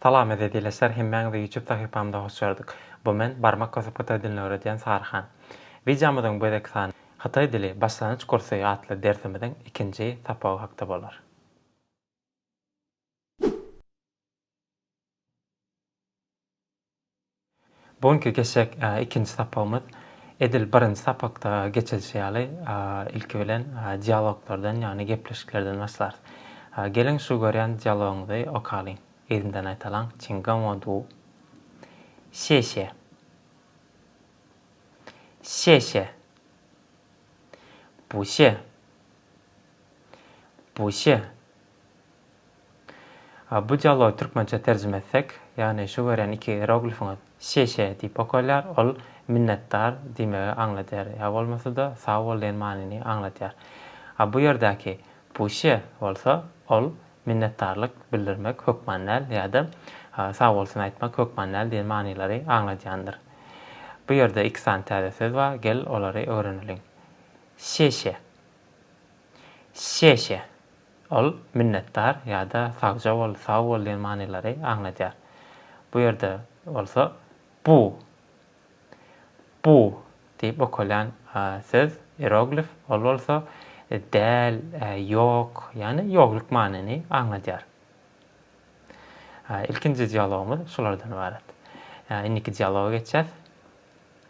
Salam eziz ildeşler hemmäňizi ýutub sahypamda hoş gördük. Bu men barmak basyp hytaý dilini öwredýän Saryhan. Wideomyzyň bu gezekki sany Hytaý dili başlangyç kursy atly dersimiziň ikinji sapagy hakda bolar. Bu günki geçjek ikinji sapagymyz edil birinji sapakda geçilişi ýaly, ilki bilen dialoglardan, ýagny gepleşiklerden başlarys. Geliň, şu görýän dialogyňyzy okalyň, yzymdan aýtalaň, Çiň Gaňo Du. Şeşe. Şeşe. Bu şe. Buşe. A bu dialogy türkmençä terjime etsek, ýagny şu görýän iki ieroglifiňiz Şe-şe diýip okalýar, ol Minnetdar diýmegi aňladýar ýa bolmasa-da Sag bol diýen manyny aňladýar. A bu ýerdäki Buşe bolsa, ol Minnetdarlyk bildirmek hökman däl ýa-da Sag bolsun aýtmak hökman däl diýen manylary aňladýandyr. Bu ýerde iki sany täze söz bar, gel olary öwreneliň. Şe-şe. Şeşe. Ol minnetdar ýa-da sagja bol, sag bol diýen manylary aňladýar. Bu ýerde bolsa bu. Bu diýip okalýan söz, ieroglif, ol bolsa däl, ýok, ýagny ýogluk manyny aňladýar. Ilkinji dialogymyz şulardan ybarat. Indiki dialoga geçýäs.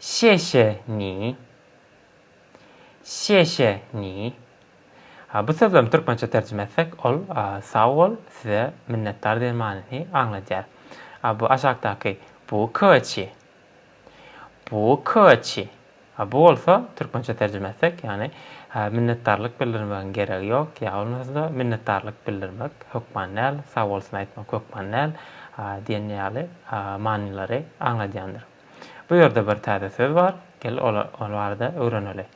Şe şe ni. Şe şe ni. A bu sözlem türkmençe terjime etsek ol sag bol, size minnetdar diýen manyny aňladýar. A bu aşakdaky bu köçi. Bu köçi. A bu bolsa, türkmençe terjime etsek, ýagny, a, minnetdarlyk bildirmegiň geregi ýok, ýa bolmasa-da, minnetdarlyk bildirmek hökman däl, sag bolsun aýtmak hökman däl, a, diýen ýaly, a, manylary aňladýandyr. Bu ýerde bir täze söz bar, gel, ol, ol barada öwreneli.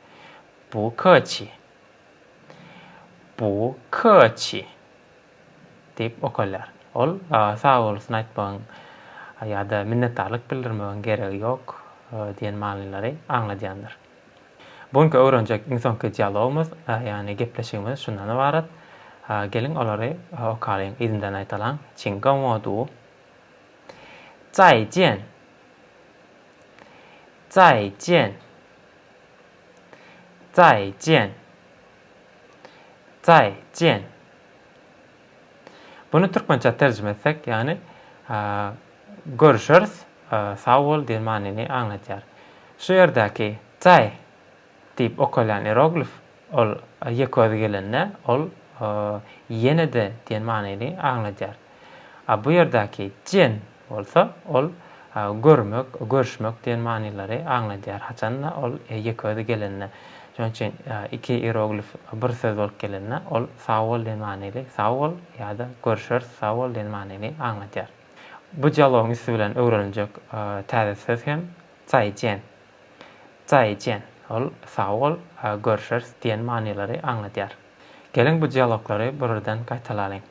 Bu köçi. Bu köçi. Diýip okalýar. Ol sagbolsun aýtmagyň ýa-da minnetdarlyk bildirmegiň geregi ýok diýen manylary aňladýandyr. Bu günki öwrenjek iň soňky dialogymyz, ýagny gepleşigimiz şundan ybarat. Geliň olary okalyň, yzyndan aýdalyň. Çiň gen wo du. Zai jian! Zai jian! Zai jian! Zaý, jen. Buny türkmençä terjime etsek, ýagny Görüşeris, sag bol diýen manyny aňladýar. Şu ýerdäki Zaý diýip okalýan ieroglif, ol ýeke özi gelende, ol Ýene-de diýen manyny aňladýar. A bu ýerdäki jen bolsa, ol görmek, görüşmek diýen manylary aňladýar. Haçan-da, ol ýeke özi gelende. Şonuň üçin iki ieroglif bir söz bolup gelende, ol sag bol diýen manyly, sag bol ýa-da görüşeris, sag bol diýen manyny aňladýar. Bu dialogyň üsti bilen öwreniljek täze söz hem zaýjen. Zaýjen, ol sag bol, görüşeris diýen manylary aňladýar. Geliň bu dialoglary bir-birden gaýtalalyň.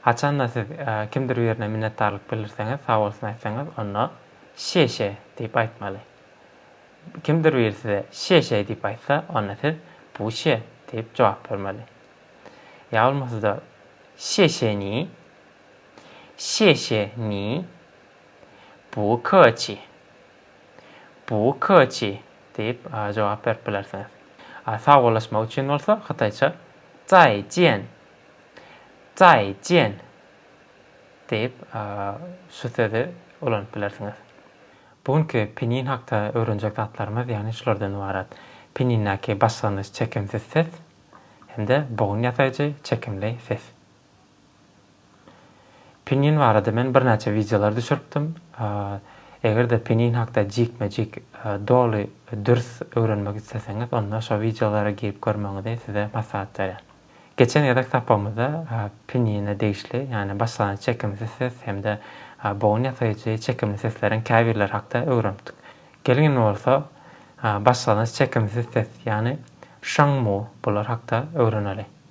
Haçan-da siz kimdir birine minnetdarlyk bildirseňiz, sag bolsun aýtsaňyz, onda Şe-şe diýip aýtmaly. Kimdir biri size Şe-şe diýip aýtsa, onda siz Buçe diýip jogap bermeli. Ýa bolmasa-da Şe-şe ni, Şe-şe ni, Buçi Bu köçi diýip jogap berip bilersiňiz. Sagbollaşmak üçin bolsa hytaýça Zai jian! Zai jian! diýip şu sözi ulanyp bilersiňiz. Bu günki pinin hakda öwrenjek zatlarymyz ýagny şulardan ybarat, Pinindäki başlangyç çekimsiz ses hem-de bogun ýasaýjy çekimli ses. Pinyin barada men birnäçe wideolar düşüripdim. Eger-de pinyin hakda jikme-jik doly dürs öwrenmek isleseňiz, onda şo wideolary girip görmegiňizi size maslahat berýän. Geçen gezek sapagymyzda pinyine degişli, ýagny başlangyç çekimsiz ses hem-de bogun ýasaýjy çekimli sesleriň käbirleri hakda öwrenipdik. Geliň indi bolsa başlangyç çekimsiz ses, ýagny şaňmu bular hakda öwreneliň.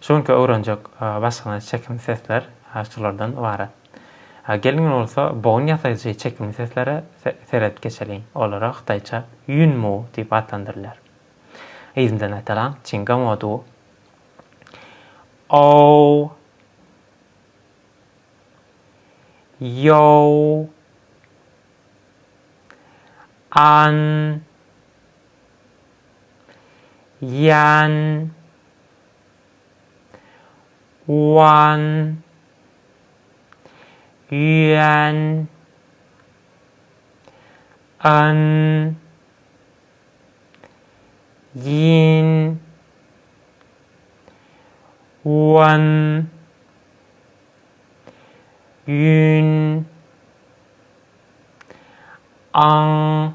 Şu günki öwrenjek başgana çekimli sesler şulardan ybarat. Gelin bolsa bogun ýasaýjy çekimli seslere seredip geçeliň. Olara hytaýça Ýun Mu diýip atlandyrylýar. Yzyndan aýtalaň, Çinga Mo Du. Ow. Ýow. An. Ýan Wan Ýuan An Ýin Wan Ýun Aň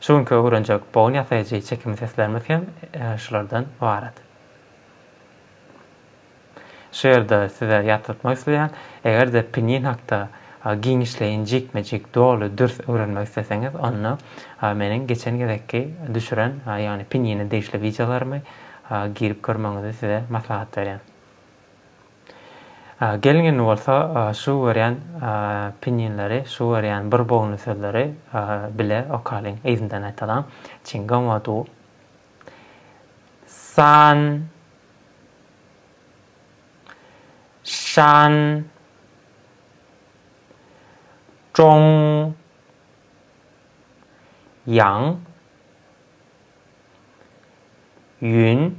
Şu günki öwrenjek bogun ýasaýjy çekimli seslerimiz hem şulardan ybarat. Şu ýerde size ýatlatmak isleýän, eger-de pinýin hakda giňişleýin, jikme-jik, doly, dürs öwrenmek isleseňiz, onda meniň geçen gezekki düşüren, ýagny pinýine degişli wideolarymy girip görmegiňizi size maslahat berýän. Gelin indi bolsa şu görýän pinýinleri, şu görýän bir bogny sözleri bile okalyň, yzyndan aýtalyň, Çinga ma du san şan zhong ýang ýun.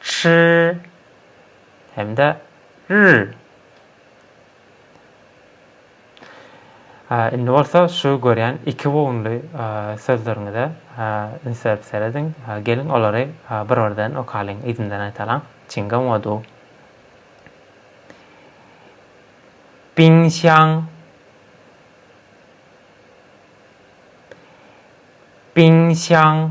Ç hem-de R. Indi bolsa şu görýän iki bogunly sözleriňize üns berip serediň. Geliň, olary bir-birden okalyň, yzyndan aýdalyň. Çinga modu. Biňşaň. Biňşaň.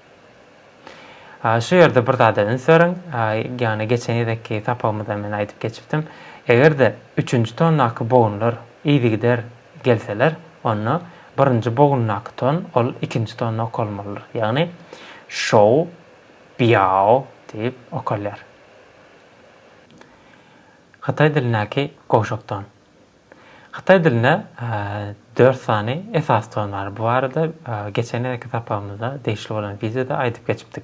Şu ýerde bir zada üns beriň, ýagny geçen gezekki sapagymyzda men aýdyp geçipdim, eger-de üçünji tondaky bogunlar yzygider gelseler, onda birinji bogundaky ton ol ikinji tonda okalmalydyr, ýagny şou, biao diýip okalýar. Hytaý dilindäki gowşak ton. Hytaý dilinde dört sany esasy ton bar. Bu barada geçen gezekki sapagymyzda degişli bolan wideoda aýdyp geçipdik.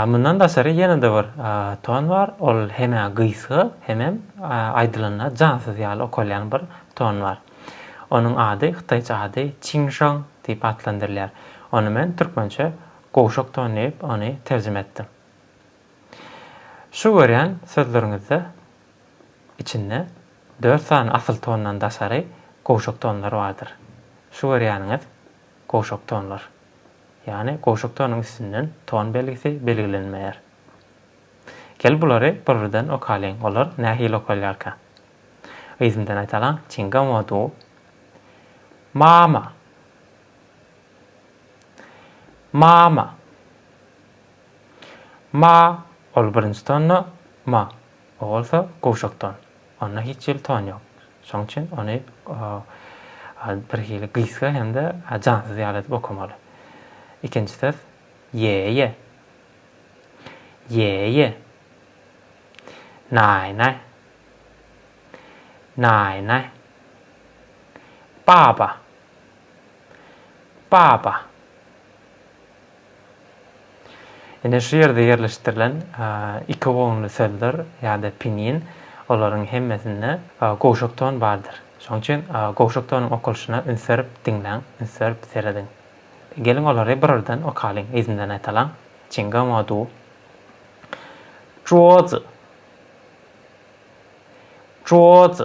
Mundan daşary ýene-de bir ton bar, ol hem-ä gysga, hemem aýdylanda jansyz ýaly okalýan bir ton bar. Onuň ady, hytaýça ady Çinşang diýip atlandyrylýar. Ony men türkmençe gowşak ton diýip, ony terjime etdim. Şu görýän sözleriňizde içinde Dört sany asyl tondan daşary gowşak tonlar bardyr. Şu görýäniňiz gowşak tonlar. Ýagny gowşak tonuň üstünden ton belgisi belgilenmeýär. Gel bulary bir-birden okalyň, olar nähili okalýarka? Yzymdan aýdalaň, Çinga mo du. Ma ma. Ma ma. Ma, ol birinji tonda, ma, O bolsa gowşakdan. Onda hiç jelton ýok. Şonuň üçin ony birhili gysga hem-de jansyz ýaly edip okamaly. Ikinji söz, ýe-ýe. Ýe-ýe. Naý-naý. Naý-naý. Baba. Baba. Ine şu ýerde ýerleşdirilen iki gonly sözdür ýa-da pinin, olaryň hemmesinde gowşak ton bardyr. Şonuň üçin gowşak tonuň okalyşyna üns berip diňläň, üns berip serediň. Geliň olary birardan okalyň, yzyndan aýtalyň. Çinga mo du. Juo zi. Juo zi.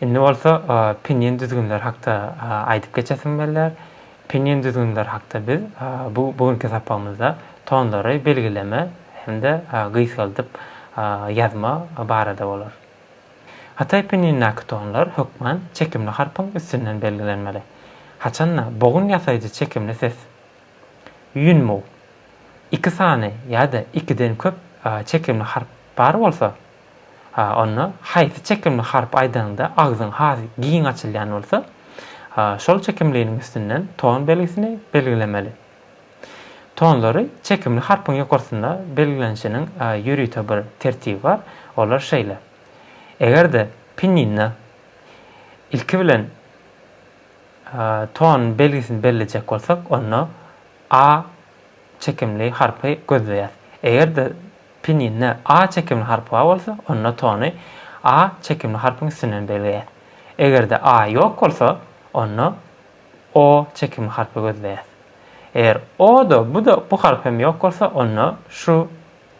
Indi bolsa pinýen düzgünleri hakda aýdyp geçesim gelýär. Pinýen düzgünleri hakda biz bu bu günki sapagymyzda tonlary belgileme hem-de gysgaldyp ýazma barada bolar. Hytaý pinýenindäki tonlar hökman çekimli harpyň üstünden belgilenmeli. Haçanda bogun ýasaýjy çekimli ses ýunmu, iki sany ýa-da ikiden köp çekimli harp bar bolsa, Ha, onda haýsy çekimli harp aýdanyňda agzyň has giň açylýan bolsa, şol çekimliniň üstünden ton belgisini belgilemeli. Tonlary çekimli harpyň ýokarsynda belgilenişiniň ýörite bir tertibi bar, olar şeýle, Eger-de pinninda ilki bilen ton belgisini bellejek bolsak, onda A çekimli harpy gözleýäs. Eger-de Peninde a çekimli harp bar bolsa, onda tony a çekimli harpyň üstünden belleýäs. Eger-de a ýok bolsa, onda o çekimli harpy gözleýäs. Eger o-da, bu-da, bu harp hem ýok bolsa, onda şu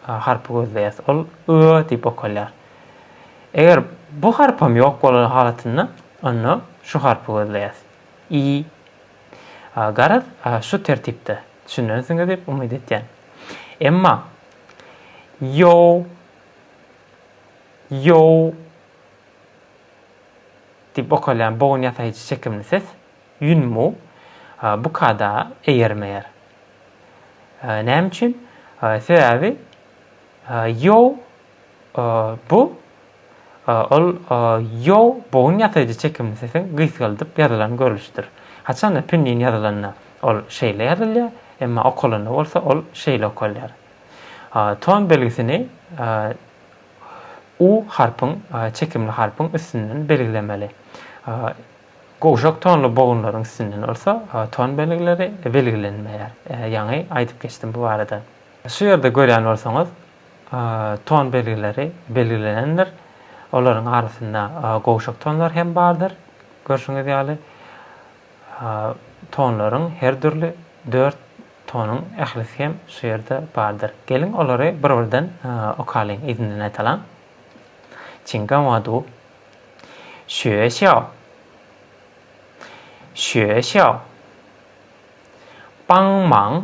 harpy gözleýäs. Ol y diýip okalýar. Eger bu harpam ýok bolan halatynda, onda şu harpy gözleýäs. I Garaz, şu tertipde düşünensiňiz diýip umyt etýän. Emma Ýow, ýow diýip okalýan bogun ýasaýjy çekimli ses, ýunmu, bu kada eýermeýär. Näme üçin? Sebäbi ýow Bu ol ýo bogun ýasaýjy çekimli sesiň gysgaldyp ýazylan görlüşidir. Haçanda pinnin ýazylanda ol şeýle ýazylýar, emma okalanda bolsa ol şeýle okalýar. Ton belgisini u harpyň, çekimli harpyň, üstünden belgilemeli. Gowşak tonly bogunlaryň üstünden bolsa ton belgileri belgilenmeýär. Ýaňy aýdyp geçdim bu barada. Şu ýerde görýän bolsaňyz, Ton belgileri belgilenendir. Olaryň arasynda gowşak tonlar hem bardyr. Görşüňiz ýaly, tonlaryň her dürli dört tonuň ählisi hem şu ýerde bardyr. Geliň, olary bir-birden okalyň, yzyndan aýdalyň. Çinga wa du. Şüe şýao. Şüe şýao. Baň maň.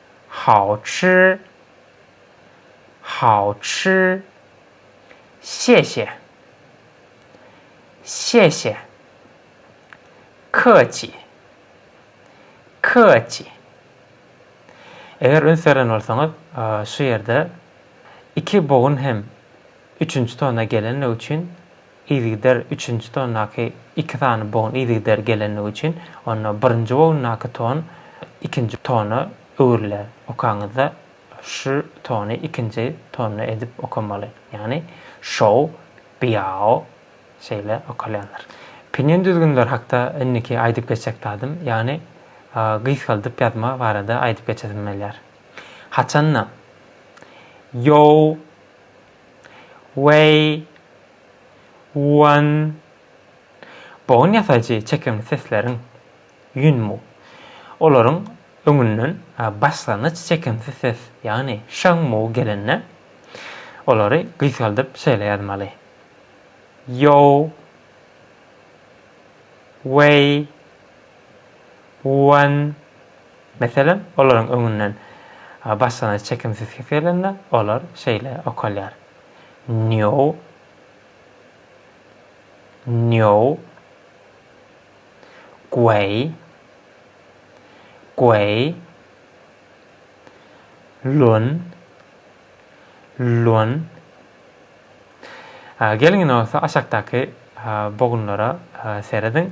How çy, how çy. Şeşe, şeşe. Köçi, köçi. Eger üns beren bolsaňyz, şu ýerde iki bogun hem üçünji tona gelenligi üçin Yzygider üçünji tondaky iki sany bogun yzygider gelenligi üçin, onda birinji bogundaky ton ikinji tona öwrüler. Okaňyzda şu tony ikinji tonda edip okamaly. Ýagny şou, biao şeýle okalýandyr. Pinyin düzgünleri hakda indiki aýdyp geçjek zadym, ýagny gysgaldyp ýazma barada aýdyp geçesim gelýär. Haçanda, ýou, Weý, wan, bogun ýasaýjy çekimli sesleriň, ýunmu, olaryň öňünden başlangyç çekimsiz ses, ýagny şaňmu gelende, olary gysgaldyp şeýle ýazmaly, ýow, weý. Wen, meselem, olaryň öňünden başlanyş çekimsiz ses gelende, olar şeýle okalýar, nýow, nýow, gueý, gueý, lun, lun. Geliň indi bolsa aşakdaky bogunlara serediň.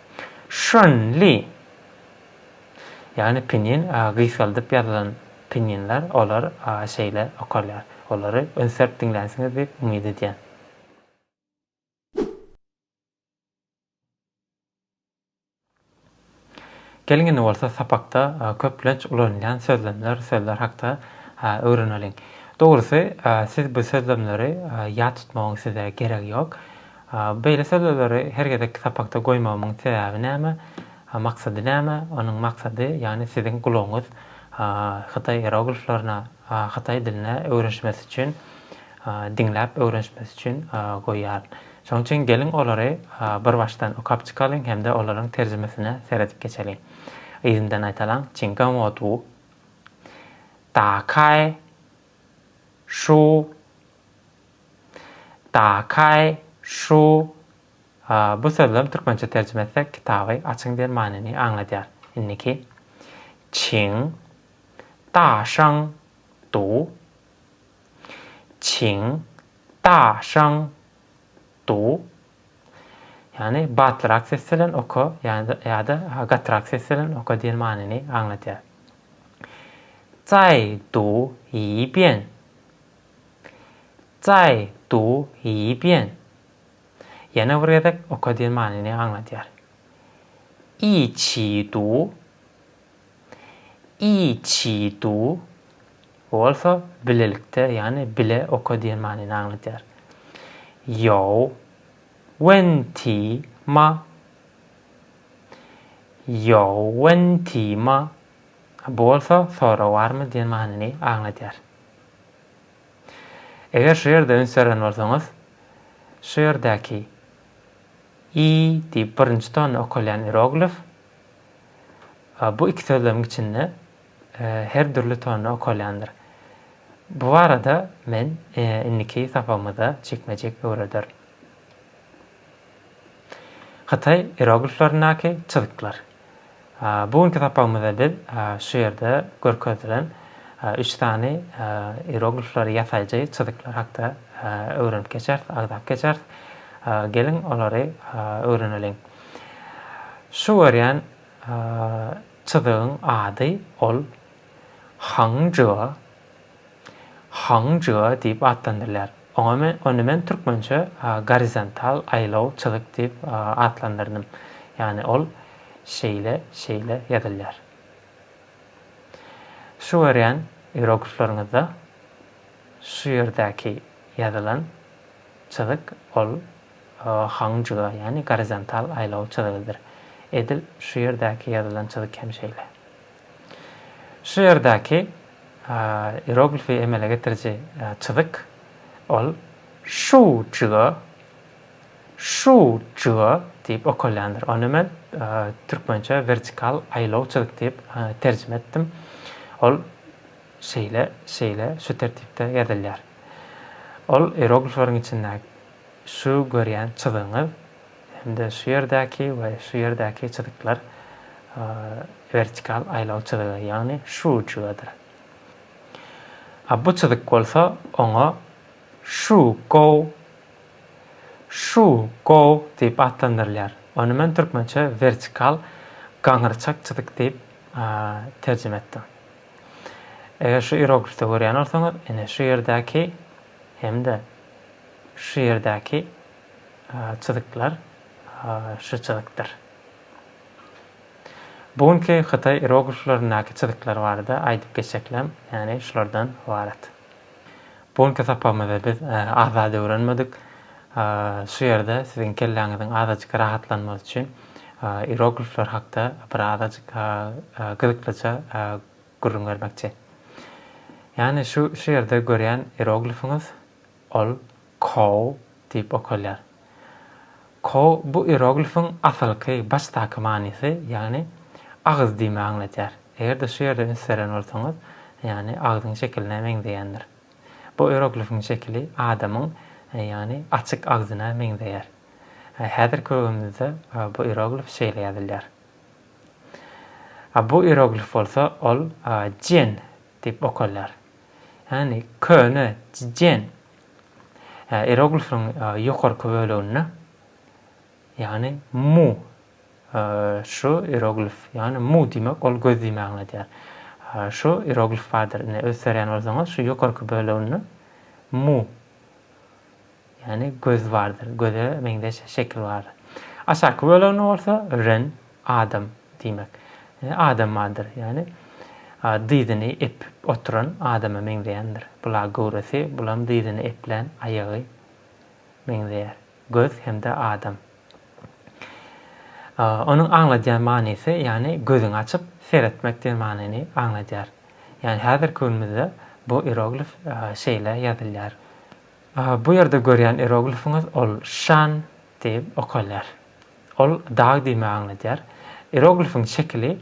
Şunli. Ýagny pinin a gysgaldyp ýazylan pininler olar a şeýle okalýar. Olary üns berip diňlänsiňiz diýip umyt edýän. Geliň indi bolsa sapakda köplenç ulanylýan sözlemler, sözler hakda öwreneliň. Dogrusy siz bu sözlemleri ýat tutmagyň size geregi ýok. Beýle sözleri her gezekki sapakda goýmagymyň sebäbi näme? Maksady näme? Onuň maksady, ýagny siziň gulagyňyz hytaý ierogliflerine, hytaý diline öwrenişmesi üçin, diňläp öwrenişmesi üçin goýýaryn. Şonuň üçin geliň olary bir başdan okap çykalyň hem-de olaryň terjimesine seredip geçeliň. Yzyndan aýdalyň, Çiň gan wo du, da kaý, şu, Dakaý, şu, bu sözlem türkmençe terjime etsek kitaby açyň diýen manyny aňladýar. Indiki, çiň, da şyň, du, çiň, da şyň, du, ýagny batlyrak ses bilen oka ýa-da gatyrak ses bilen oka diýen manyny aňladýar. Zaý du yi bian, Jaý, du, yi, bian. Ýene bir gezek oka diýen manyny aňladýar. I, çi, du. I, çi, du. Bu bolsa bilelikde, ýagny bile oka diýen manyny aňladýar. Ýow, wen, ti, ma. Ýow, wen, ti, ma. Bu bolsa sorag barmy diýen manyny aňladýar. Eger şu ýerde üns beren bolsaňyz, şu ýerdäki i diýip birinji tony okalýan ieroglif bu iki sözlemiň içinde her dürli tony okalýandyr. Bu barada men indiki sapagymyzda jikme-jik öwrederin. Hytaý ierogliflerindäki çyzyklar. Bu günki sapagymyzda biz şu ýerde görkezilen üç sany ieroglifleri, ýasaýjy çyzyklar hakda öwrenip geçeris, agzap geçeris. Geliň, olary öwreneliň. Şu görýän çyzygyň ady ol Hangžua Hong Jua diýip atlandyrylýar. Ony men türkmençe gorizontal aýlaw çyzyk diýip atlandyrdym. Ýagny ol şeýle, şeýle ýazylýar. Şu görýän ieroglifleriňizde şu ýerdäki ýazylan çyzyk ol Hong Jua, ýagny gorizontal aýlaw çyzygydyr. Edil şu ýerdäki ýazylan çyzyk hem şeýle. Şu ýerdäki ieroglifi emele getiriji çyzyk, ol Şu jyga, şu jyga diýip okalýandyr. Ony men türkmençe wertikal aýlaw çyzyk diýip terjime etdim. Ol şeýle, şeýle, şu tertipde ýazylýar. Ol ieroglifleriň içindäki şu görýän çyzygyňyz. hem-de şu ýerdäki we şu ýerdäki çyzyklar wertikal aýlaw çyzygy, ýagny şu uçugadyr. A bu çyzyk bolsa oňa şu gow, şu gow diýip atlandyrylýar. Ony men türkmençe wertikal gaňyrçak çyzyk diýip terjime etdim. Eger şu ieroglifde görýän bolsaňyz, ine şu ýerdäki hem-de şu ýerdäki çyzyklar şu çyzykdyr. Bu günki hytaý ierogliflerindäki çyzyklar barada aýdyp geçeklem, ýagny şulardan ybarat. Bu günki sapagymyzda biz az zat öwrenmedik. Şu ýerde siziň kelläňiziň azajyk rahatlanmasy üçin ieroglifler hakda bir azajyk gyzyklyja gürrüň bermekçi. Ýagny şu şu ýerde görýän ieroglifiňiz Ol Koo diýip okalýar. Koo bu ieroglifiň asylky, başdaky manysy, ýagny agyz diýmegi aňladýar. Eger-de şu ýerde üns beren bolsaňyz, ýagny agzyň şekiline meňzeýändir. Bu ieroglifiň şekili adamyň, ýagny açyk agzyna meňzeýär. Häzirki öwezimizde bu ieroglif şeýle ýazylýar. Bu ieroglif bolsa ol Jian Diýip okalýar. Ýagny köne Jjen ieroglifiniň ýokarky böleginde, ýagny mu şu ieroglif, ýagny mu diýmek ol göz diýmegi aňladýar. Şu ieroglif bardyr. Ine öz serýän bolsaňyz şu ýokarky böleginde mu Ýagny göz bardyr, göze meňzeş şekil bardyr. Aşaky bölegine bolsa ren, adam, diýmek. Adam bardyr, ýagny dyzyny epip oturan adama meňzeýändir. Bula göwresi, bulam dyzyny eplän aýagy meňzeýär. Göz hem-de adam. Onuň aňladýan manysy, ýagny gözüňi açyp seretmek diýen manyny aňladýar. Ýagny häzirki günümizde bu ieroglif şeýle ýazylýar. Bu ýerde görýän ieroglifiňiz ol Şan diýip okalýar. Ol dag diýmegi aňladýar. Ieroglifiň şekili,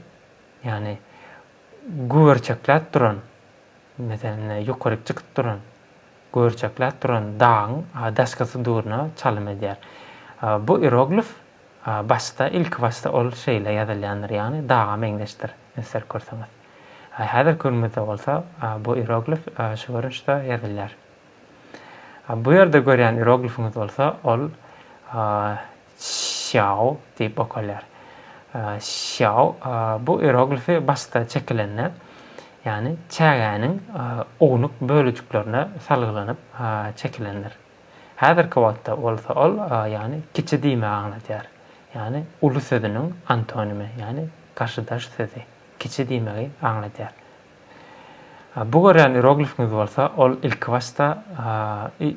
ýagny güberçekläp duran, meselem, ýokaryk çykyp duran, güberçekläp duran dagyň daşkysy durna çalym edýär. Bu ieroglif başda, ilkibaşda ol şeýle ýazylýandyr, ýagny daga meňzeşdir, öňsüzerk görseňiz. Häzirki günümizde bolsa bu ieroglif şu görnüşde ýazylýar. Bu ýerde görýän ieroglifiňiz bolsa ol Şýao diýip okalýar. Şýao bu ieroglifi başda çekilende, ýagny çägäniň ownuk bölejiklerine salgylanyp çekilendir. Häzirki wagtda bolsa ol ýagny kiçi diýmegi aňladýar. Ýagny uly sözüniň antonimi, ýagny garşydaş sözi, kiçi diýmegi aňladýar. Bu görýän iroglifimiz bolsa, ol ilkibaşda,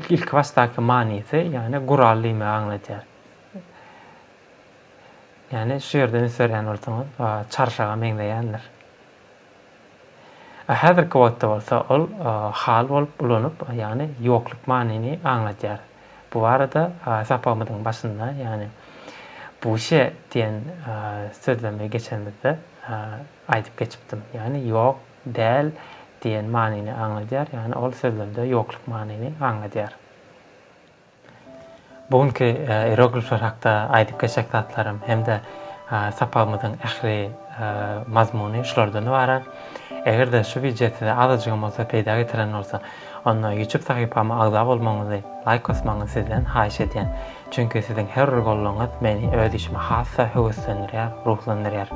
ilkibaşdaky manysy, ýagny gural diýmegi aňladýar. Ýagny şu ýerde üns berýän bolsaňyz, çarşaga meňzeýändir. Häzirki wagtda bolsa ol hal bolup ulanyp, ýagny ýokluk manyny aňladýar. Bu barada sapagymyzyň başynda, ýagny buşe diýen sözlemi geçenimizde, Aýdyp geçipdim. Ýagny ýok, däl diýen manyny aňladýar, ýagny ol sözlemde ýokluk manyny aňladýar. Bu günki ieroglifler hakda aýdyp geçjek zatlarym hem-de sapagymyzyň ähli mazmuny şulardan ybarat. Eger-de şu wideo size azajygam bolsa peýda getiren bolsa, Onda YouTube sahypama agza bolmagyňyzy, laýk basmagyňyzy sizden haýyş edýän. Çünki siziň her bir goldawyňyz meni öz işime has-da höweslendirýär, ruhlandyrýar.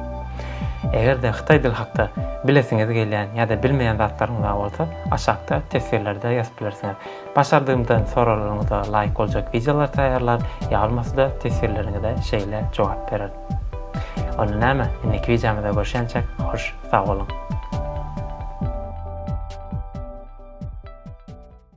Eger-de hytaý dili hakda bilesiňiz gelýän ýa-da bilmeýän zatlaryňyz bar bolsa, aşakda teswirlerde ýazyp bilersiňiz. Başardygymdan soraglaryňyza laýyk boljak wideolar taýýarlar, ýa bolmasa-da teswirleriňize şeýle jogap bererin. Onda näme, indiki wideomyzda görşençek, hoş! Sag boluň.